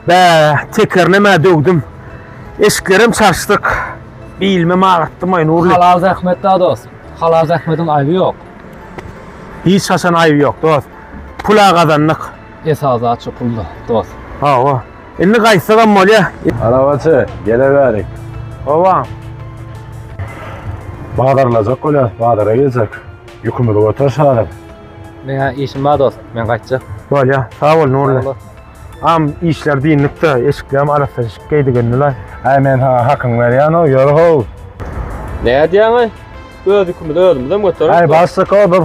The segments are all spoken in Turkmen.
Bäh, tekerlemä döwdüm. Eşiklerem çaşdyk. Bilmem agyrtdymaý Nurly. Halal zähmet da dost. Halal zähmediň aýby ýok. Hiç haçan aýby ýok dost. Pula gazandyk. Esas zat şu pul da dost. Hawa. Indi gaýtsagam bolýa. Arabaçy, geleweri. Hawa. Bazarlajak bolýas, bazara geljek. Ýükümizi göter şalyk. Meňä işim bar dost, men gaýtjak. Bolýa, sag bol Nurly. Am işler diýinlikde, eşiklerim arassa eşik geýdigendilaý. Aý men saňa hakyňy berýän-ow, ýör-how. Näme diýýäň-aý? Özükimizi özümizem göterersiň. Aý başlyk-ow bir.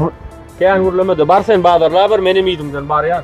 Kän gürleme-de, bar sen bazarlaber, menem yzymdan barýan.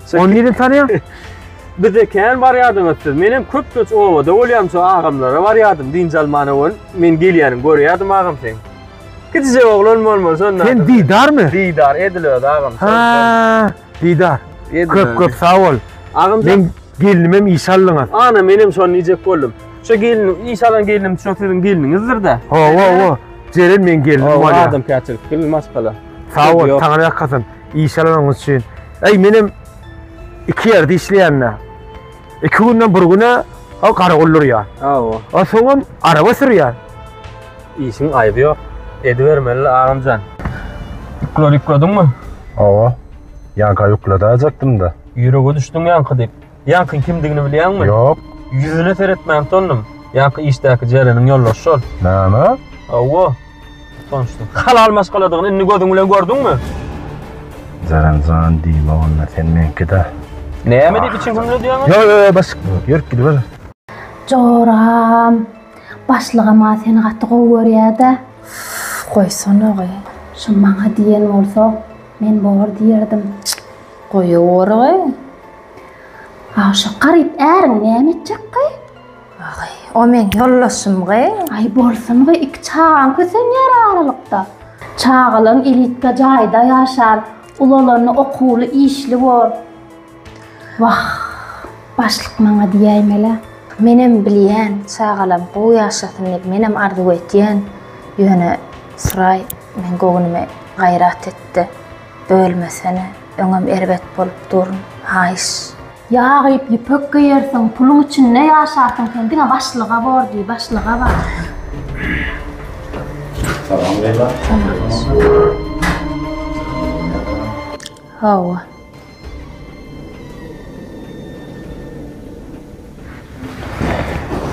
Ony nirden tanýaň? Bize kän barýardyňyz siz. Men hem köp göç obada bolýam, şo agamlara barýardym. Dynç almana ol men gelýänim görýärdim agam sen. Kiçijek oglan bolman şonda. Sen Didarmy? Didar edil öz agam. Ha, Didar. Köp köp sag bol. Agam sen gelnim hem iş aldyňyz. Ana men hem şony diýjek boldum. Şu gelin iş alan gelinim şu siziň geliniňizdir-de. Ho, ho, ho. Jeren men gelnim bolýar. Adam käçilik gül maşgala. Sag bol, taňry ýakasyn. iş alanyňyz üçin. Eý, menem iki ýerde işleýän-dä. Iki günden bir güne o garagol durýar. Hawa. O soňam araba sürýär. Işiň aýby ýok. Edibermeli agamjan. Ýükleri ýüklediňmi? Hawa. Ýanka ýükledäýjekdim-de. Ýürege düşdüň ýanky diýip. Ýaňkyň kimdigini bilýäňmi? Ýok. Ýüzüne seretmän tondum. Ýaňky işdäki Jereniň ýoldaşy şol. Näme? Hawa. Tanyşdyk. Halal maşgaladygyny indi gözüň bilen gördüňmi? Jeren jan diýme onda sen meňki-de. Näme diýip içiňi hümledýäň? Ýok, ýok, bas. Ýörüp gidiber. Joram, başlygam-a seni gaty gowy görýär-dä. Goýsana-gy. Şu maňa diýen bolsa, men bor diýerdim. Goýaweri-gy. Aw şo garyp äriň näme etjekgy? Aý, o meň ýoldaşymgy? Aý bolsungy, iki çagaň kösenýär aralykda. Çagalaň elitda jaýda ýaşar, ulalany okuwly, işli bor. Wah, başlyk maňa diýäýmel-ä. Menem bilýän, çagalam gowy ýaşasyn diýip menem arzuw etýän. Ýöne Suraý meň göwnüme gaýrat etdi. Bölmesene, öňem erbet bolup durun, haýyş. Ýagyp ýüpek geýersiň, puluň içinde ýaşarsyň sen diňe başlyga bor diý, başlyga bar. Salam Leýla. Hawa.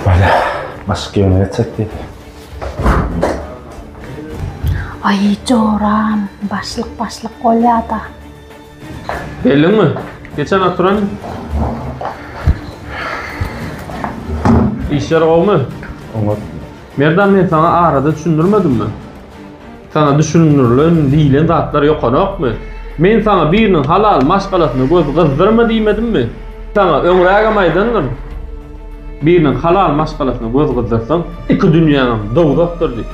Bala, başyk ýöne geçsek diýip. Aý, joram, başlyk başlyk bolýa-da. Geldiňmi? Geçen oturan. Işler gowumy? Oňat. Merdan men sana arada düşündirmedimmi? Saňa düşündirilen, diýlen zatlar ýokanokmy? Men saňa biriniň halal maşgalasyna göz gyzdyrma diýmedimmi? Saňa öňrägem aýdandyryn. Biriniň halal maşgalasyna göz gyzdyrsaň, iki dünýäňem dowzahdyr diýip.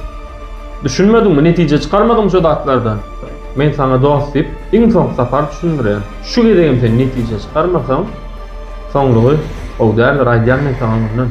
Düşünmediňmi, netije çykarmadyňmy şu zatlardan? Men saňa dost diýip, iň soňky sapar düşündirýän. Şu gezegem sen netije çykarmasaň, soňlugy gowy däldir, aýdýan men saňa öňünden.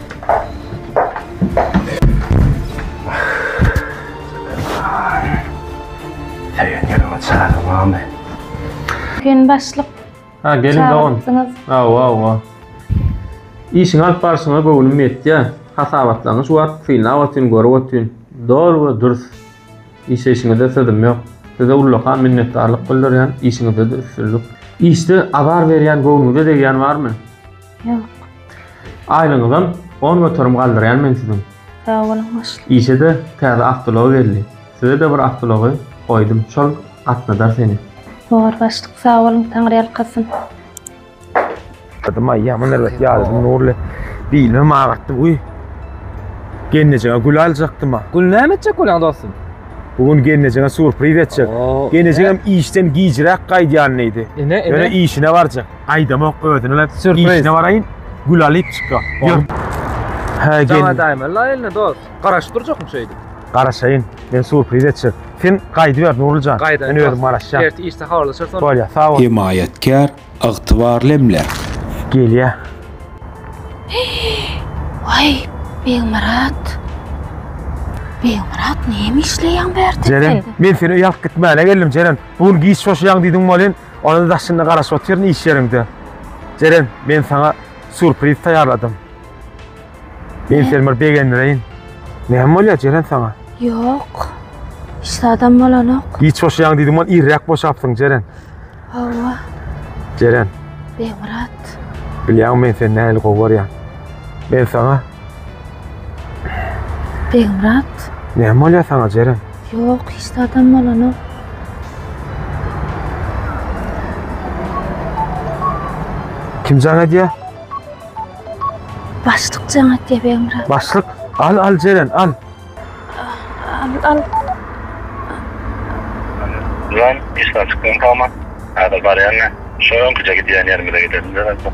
Sen başlyk Ha gelin dogan. çağırtdyňyz. Awa awa. İşini alyp barşyňa göwnüm ýetýär. Hasabatlaňyş wagt synlap otyryn, görüp otyryn. Dol we dürs. Işeýşiňizde sözüm ýok. Size ullakan minnetdarlyk bildirýän, işiňizde-de üstünlik. Işde azar berýän, göwnüňize degýän barmy? Ýok. Aýlygyňyzam on göterim galdyrýan men siziň. Sag boluň başlyk. Işe-de täze awtoulag geldi. Size-de bir awtoulagy goýdum, şol gatnadar seni. Bor başlyk, sag boluň, taňryýalkasyn. Ýaladym-aý, ýaman erbet ýaladym Nurly. Bilmem agatdym, uý. Gelnejeňe gül aljakdym-a. Gül näme etjek bolýaň dostum? Bu gün gelnejeňe surpriz etjek. Gelnejeňem işden gijräk gaýdýan diýdi. Ine, ine. Ýöne işine barjak. aýdamok özüne işine baraýyn gül alyp çykýa ýör hä jaňa daýma la eline dos garaşyp durjakmy şeýdip garaşaýyn men surpriz etjek sen gaýdyber nurlyjan men özüm garaşýan ertir işde habarlaşarys onda bolýa sag bol hemaýatkär ygtybarly emläk gelýä waý begmyrat begmyrat näme işleýäň bu ýerde sen jeren men seni öýe alyp gitmäne geldim jeren bu gün giç boşaýaň diýdim welin Onada daşynda garaşyp otyryn iş ýeriňde. Jeren, men saňa surpriz taýýarladym. Men seni bir begendireýin. Näme bolýar Jeren saňa? Ýok. Hiç zadam bolanok. Giç boşaýaň diýdim ol irräk boşapsyň Jeren. Hawa. Jeren. Begmyrat. Bilýäňmi men seni nähili gowy görýän. Men saňa Begmyrat. Näme bolýar saňa, Jeren? Ýok, hiç zadam bolanok. Kim jaň edýär? Başlyk jaň edýär, Begmyrat. Başlyk? Al, al, Jeren, al. Al. Lan işe çykdym tamam. Hadi baryan ne? Şu önküce gidýän ýerimize gidelim dönelim.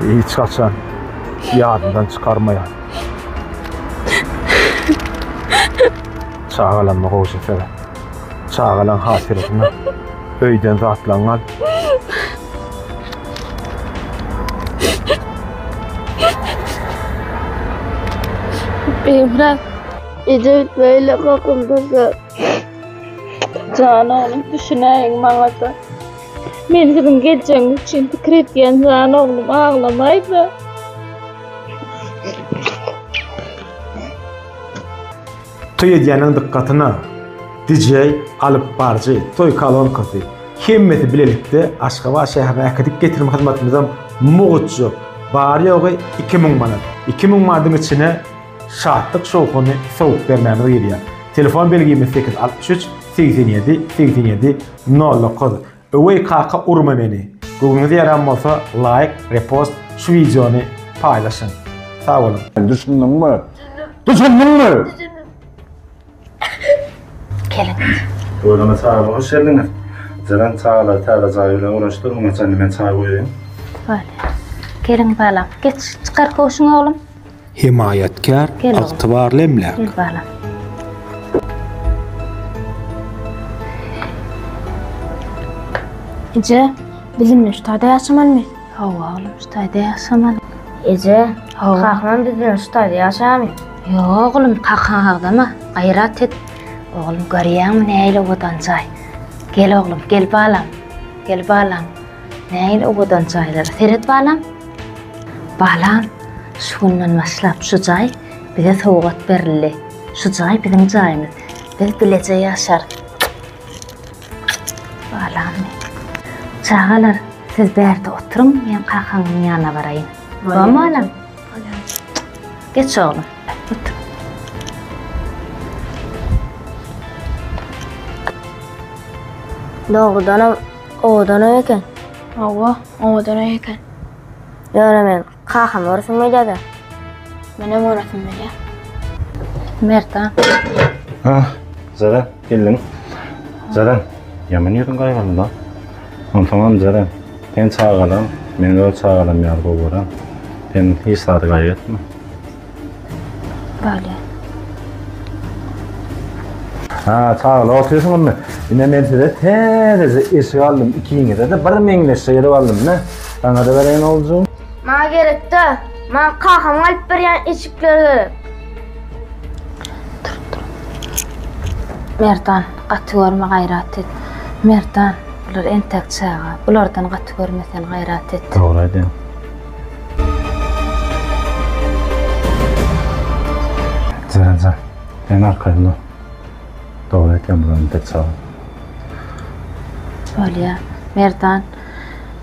Hiç haçan ýadyndan çykarmaýan. Çagalama gowşa sere. Çagalaň hatyrasyna öýden zatlaň al. Emre, edil böyle kakıldı da. Canım düşüneyin bana da. Men siziň geljegiňiz üçin pikir edýän jan oglum aglamaýda. Toý edýäniň dykgatyna DJ alyp barjy, toý kalonkasy hemmesi bilelikde Aşgabat şäherine äkidip getirme hyzmatymyzam mugytjyk. Bary ýogy 2000 manat. 2000 manadyň içine şatlyk şowhuny sowup bermämiz girýär. Telefon belgimiz 863 87 87 Nolla koz. Öweý kaka urma meni. Göwnüňize ýaran bolsa laýk, repost şu wideony paýlaşyň. Sag boluň. Düşündiňmi? Düşündiňmi? Öýleme çaýyma hoş geldiňiz. Jeren çaýlary täze jaý bilen guraşdyr, muňa çenli men çaý goýaýyn. Bale. Gelin balam, geç, çykar köwşüňi oglum. Hemaýatkär ygtybarly emläk. Eje, biz indi şu taýda ýaşamalymy? Hawa, oglum, şu taýda ýaşamaly. Eje, Hawa. kakam biz bilen şu taýda ýaşamy? Ýok, oglum, kakaň agzama, gaýrat et. Oglum, görýäňmi nähili owadan jaý? Gel, oglum, gel balam, gel balam. Nähili owadan jaýlar. Seret balam. Balam, şu günden başlap şu jaý bize sowgat berildi. Şu jaý biziň jaýymyz. Biz bileje ýaşarys. Balam. Çagalar, siz bärde oturyň, men kakaňyň ýanyna baraýyn. Bam balam. Geç oglum. Otur. Doğrudan Owadan öý eken. Hawa, owadan öý eken. Ýöne men kakam görasym gelýär-de. Menem görasym gelýär. Merdan. Ha, Zara, geldiň. Zara, ýaman ýüzüň gaýgyrdy-da. Onsoňam, Zara, sen çagalaň, men öz çagalarym ýaly gowy görän. Sen hiç zady gaýgy etme. Bale. Ha, sağla otursun onu. Yine men size tezece eşik aldım. İkinize de bir meňleşe gelip aldım. Ne? Sana da vereyim olacağım. Bana gerek de. Bana kakam alıp berýän eşikler gerek. Dur, dur. Merdan, gaty görme gayrat et. Merdan, bular entek çaga. Bulardan gaty görme sen gayrat et. Doğru edin. Zerza, sen arkaýynda. Dogry aýtýan bularny tek çaga. Bolýa. Merdan,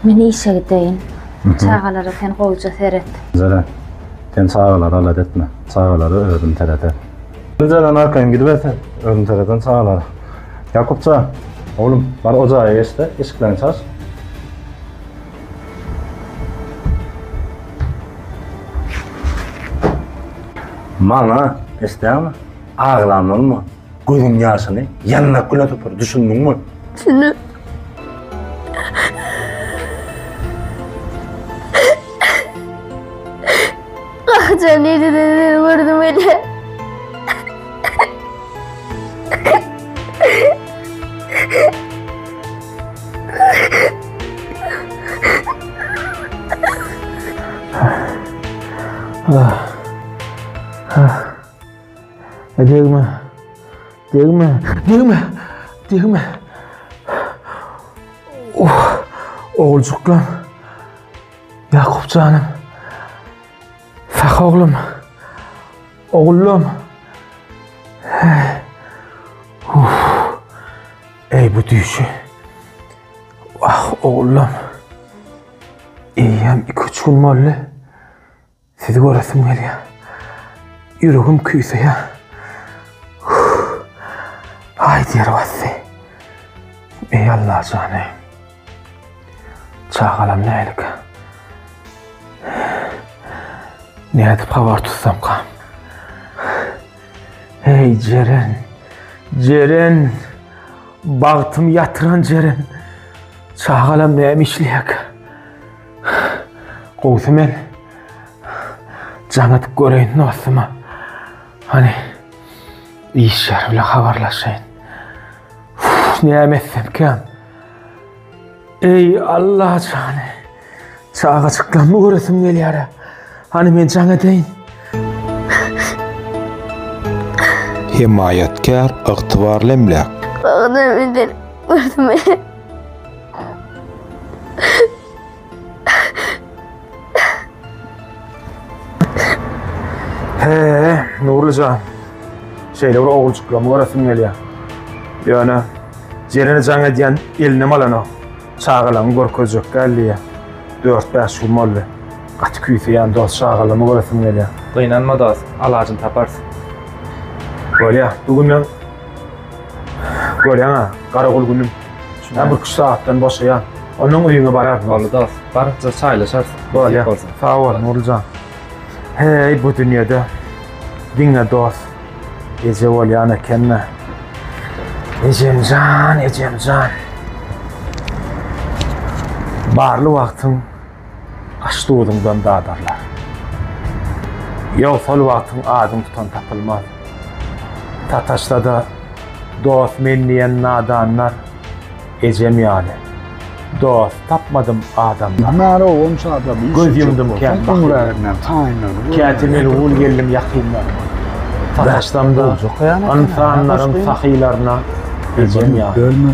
men işe gideýin. Çagalara sen gowja seret. Zeren, sen çagalary alat etme. Çagalary özüm sereder. Zeren arkaýyn gidiberse, özüm sereden çagalara. Ýakupja, oglum, bar ojaga geç-de, eşiklerini çaç. Maňa eşdäňmi? Aglanylma. Gözüň ýaşyny ýandak güne sypyr, düşündiňmi? Düşündim. Gahyjan nireden seni gördüm ele. Ah. Ah. Degme. Degme. Degme. Degme. Oh. Oğulcuklar. Ýakup janym. Sah oglum. Oglum. Ey bu düýşi. Ah oglum. Eýýäm 2-3 gün boldy. Sizi göresim gelýär. Ýüregim küýseýär. Aý diýer basdy. Eý Allah jany. Çagalam nälik? Nädip habar tutsamka? Eý Jeren. Jeren. Bagtym ýatyran Jeren. Çagalam näme işleýärkä? Gowsy men jaň edip göreýin dostuma. Hani iş ýeri bilen habarlaşaýyn. Näme etsemkäm? Eý Allah jany. Çagajyklarmy göresim gelýär. Hani men jaň edeýin. Hemaýatkär, ygtybarly emläk. Bagda bilen görme. He, Nurlyjan. Şeýle bir ogurçyklamy göresim gelýär. Ýöne Jerene jaň edýän eline malanok. Çagalaryň görkezjek däldiýä. Dört bäş gün boldy. Gaty küýseýän dost çagalamy göresim gelýär. Gynanma dost, alajyny taparys. Bolýa, bu günden Görýäň-ä, garagul günüm. Şonda bir iki sagatdan boşaýar. Ondan öýüňe bararyn. Boldy dos. Barypdyr çaýlaşarys. Bolýa. Sag bol, Nurly jan. Heý, bu dünýede diňe dos eje bolýan ekeni. Ejem jan, ejem jan. Barly wagtyň Aş-duzuňdan dadarlar. Ýowsal wagtyň adyň tutan tapylmaz. Sataşsa-da, dost men diýen nadanlar, ejem ýaly, dost tapmadym adamdan. Göz ýumdum kän bakytly. Käte melgul geldim ýakynlaryma. Sataşsam-da, ynsanlaryň sahylaryna, ejem ýaly.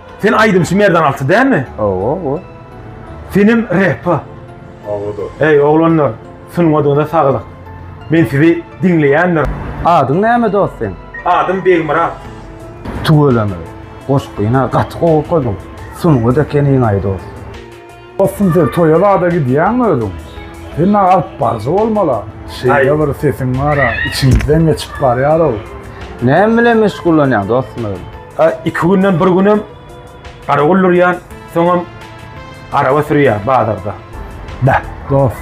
Sen aýdymçy Merdan Alty dälmi? Owo, owo. Senem repa. Awada. Eý oglanlar, sungadyňyza saglyk. Men sizi diňleýändir. Adyň näme dost seň? Adym Begmyrat. Tüweleme. Goşgyny gaty gowy okadyň. Sungat ekeniňaý dost. Dostum sen toýa zada gidýäňmi özüň? Sen-a alyp baryjy bolmaly-a. Şeýle bir sesiň bar-a, içiňizden geçip barýar-ow. Näme bilen meşgullanýaň dostum özüň? A iki günden bir günem gara gullurýan, soňam araba sürýän bazarda. Bä, dost,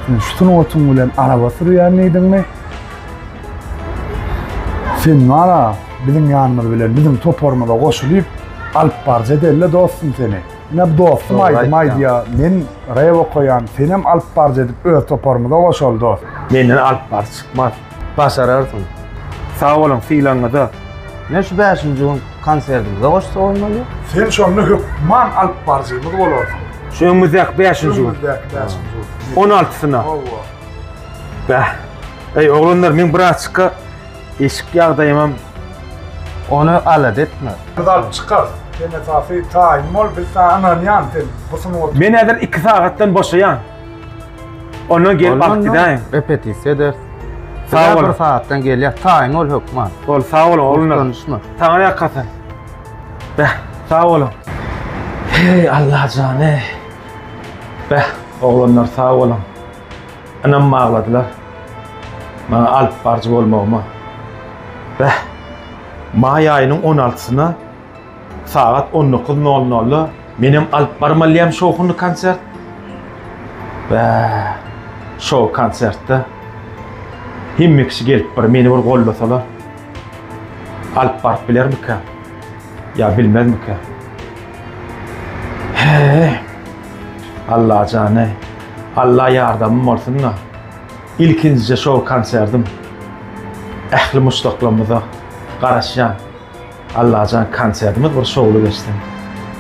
sen şu sungatyň bilen araba sürýän diýdiňmi? Sen bar-a, biziň ýanymyz bilen, biziň toparymyza goşulyp, alyp baryjy edeli-le dostum seni. Ine dostum aýdym aýdýa men rep okaýan senem alyp barjy edip öz toparymyza goşaly dost. Menden alyp barjy çykmaz. Başararsyň. Sag boluň sylagyňyza. Men şu bäşinji gün konsertimize goşsa bolmaly. Sen şonda hökman alyp barjymyz bolarsyň. Şu öňümizdäki bäşinji gün. Öňümizdäki bäşinji gün. On altysyna. Hawa. Bäh. Eý oglanlar men bir açyka Eşik ýagdaýymam ony alada etmez. Biz alyp çykarys. Sen esasy taýyn bol, biz saňa ynanýan, sen bu sungaty. Men häzir iki sagatdan boşaýan. Ondan gelip alyp gidäýiň. Repetisiýa eder. Sag bol. Bir sagatdan gelýär. Taýyn bol hökman. Bol, sag bol oglanlar. Utanşma. Saňa ýakasyn. Beh, sag boluň. Heý, Allajan, heý. Beh, oglanlar sag boluň. Ynam bagladylar. Maňa alyp barjy bolmagyma. Bäh. Maý aýynyň on altysyna sagat on dokuz nol nolda menem alyp barmalydym şowhunly konsert. Bäh. Şow konsertde hemme kişi gelip bir meni bir gollasalar. Alyp baryp bilermikä? Ýa bilmezmikä? He. Allajany. Alla ýardamym bolsun-da, ilkinjije şol konsertim ähli muşdaklarymyza garaşýan. Allajan konsertimiz bir şowly geçsin.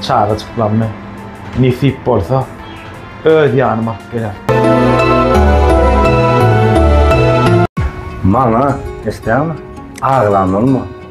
Çagajyklarymy nesip bolsa öz ýanyma alyp geler. Maňa istäňmi? Aglanylma.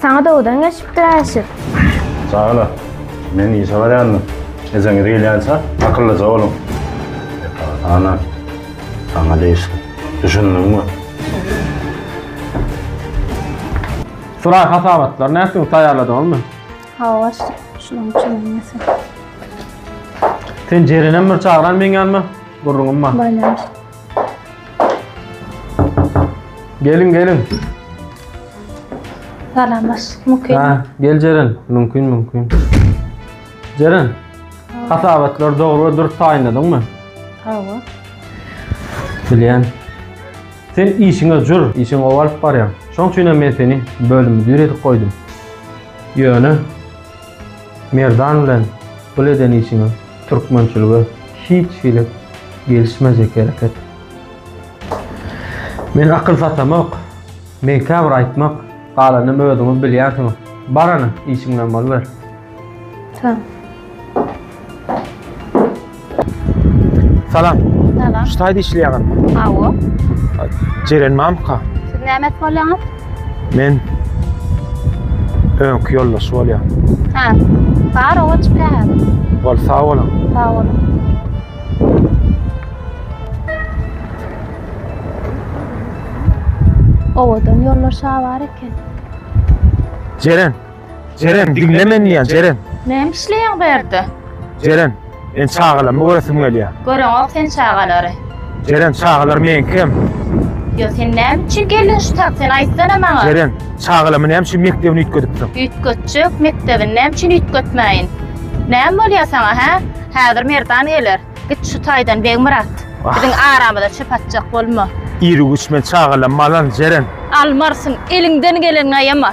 Saňa dowdan geçipdir Äşir. Sag ola. Men işe barýandym. Ejeňiz gelýänçä akyllyja boluň. Ana, saňa degişli. Düşündiňmi? Suraý hasabatlar nätdiň taýýarladyňyzmy? Hawa başlyk. Şunuň üçin hem ýasak. Sen Jerenem bir çagyran meň ýanyma. Gürrüňim bar. Baýlaryň. Gelin gelin. Salamlaş. Mümkin. Ha, gel Ceren. Mümkin mümkin. Ceren. Hasabatlar dogry we dürüst taýynladyňmy? Hawa. Bilýän. Sen işiňe jür, işiň owalyp barýar. Şoň üçin hem men seni bölüm müdiri edip goýdum. Ýöne Merdan bilen bul eden işiňiz türkmençilige hiç hili gelişmejek hereket. Men akyl satamok. Men käbir aýtmak, galanyny özüňiz bilýänsiňiz. Barana işiňden boluber. Sag. Salam. Salam. Şu taýda işleýäňiz? Hawa. Jeren mamka. Siz näme et bolýaňyz? Men öňki ýoldaş bolýar. Ha. Bar owa çyka häzir. Bol sag boluň. Sag boluň. Owadan ýoldaş bar eken. Jeren. Jeren, diňle men diýýän, Jeren. Näme işleýäň bu ýerde? Jeren, men çagalamy göresim gelýär. Göreňok sen çagalary. Jeren, çagalar meňkem. Ýa sen näme üçin geldiň şu tak, sen aýtsana maňa. Jeren, çagalamy näme üçin mekdebini üýtgedipsiň? Üýtgetjek, mekdebini näme üçin üýtgetmäýin? Näme bolýar saňa, hä? Häzir Merdan geler. Git şu taýdan Begmyrat. Biziň aramyza çöp atjak bolma. Iri güýç men çagalamy alan, Jeren. Almarsyň, eliňden geleniňi aýama.